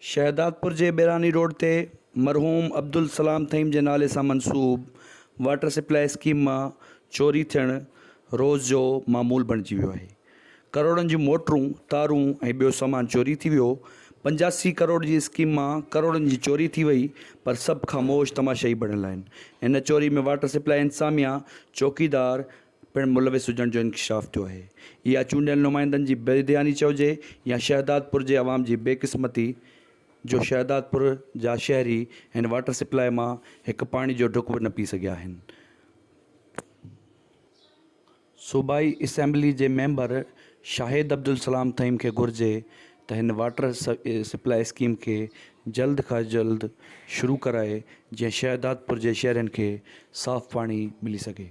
شهدادپور جي بيراني روڊ تي مرحوم عبدالسلام ٿهيم جي نالي سان منسوب واٽر سپلاء اسڪيم مان چوري ٿيڻ روز جو معمول بڻجي ويو آهي. ڪروڙن جون موٽرون، تارون ۽ ٻيو سامان چوري ٿي ويو. پنجاسي ڪروڙ جي اسڪيم مان ڪروڙن جي چوري ٿي وئي پر سڀ خاموش تماشائي بڻيل آهن. ان چوري ۾ واٽر سپلاء انتظاميا، چوڪيدار پڻ ملوث هجڻ جو انڪشاف ٿيو آهي. اها چونڊيل نمائندن جي بيڌياني چئجي يا شهدادپور جي عوام جي بي قسمتي جو شهدادپور جا شهري هن واٽر سپلاء مان هڪ پاڻي جو ڍڪ به نه پي سگهيا آهن. صوبائي اسيمبلي جي ميمبر شاهد عبدالسلام ٿهيم کي گهرجي ته هن واٽر سپلاء اسڪيم کي جلد کان جلد شروع ڪرائي جيئن شهدادپور جي شهرين کي صاف پاڻي ملي سگهي.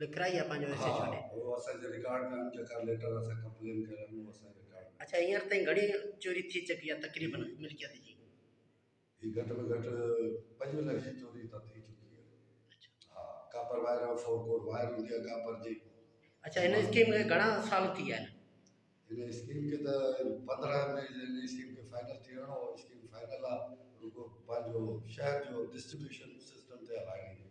لکرائي يا پنهنجو حصو ڇڏي. ها اهو اسان کي رڪارڊ ڪن جيڪا ليٽر اسان ڪمپلين ڪيل آهن اهو اسان کي رڪارڊ ڪن. اڇا هينئر تائين گهڻي چوري ٿي چڪي آهي تقريبن ملڪيت جي؟ هي گهٽ ۾ گهٽ پنجون لکين چوري ته ٿي چڪي آهي. اڇا. ها copper wire ۽ four core wire هوندي آهي ڪاپر جي. اڇا هن اسڪيم کي گهڻا سال ٿي ويا آهن؟ هن اسڪيم کي ته پندرهن ۾ هن اسڪيم کي فائنل ٿيڻو هو اسڪيم فائنل آهي رڳو پنهنجو شهر جو ڊسٽريبيوشن سسٽم تي هلائڻي هئي.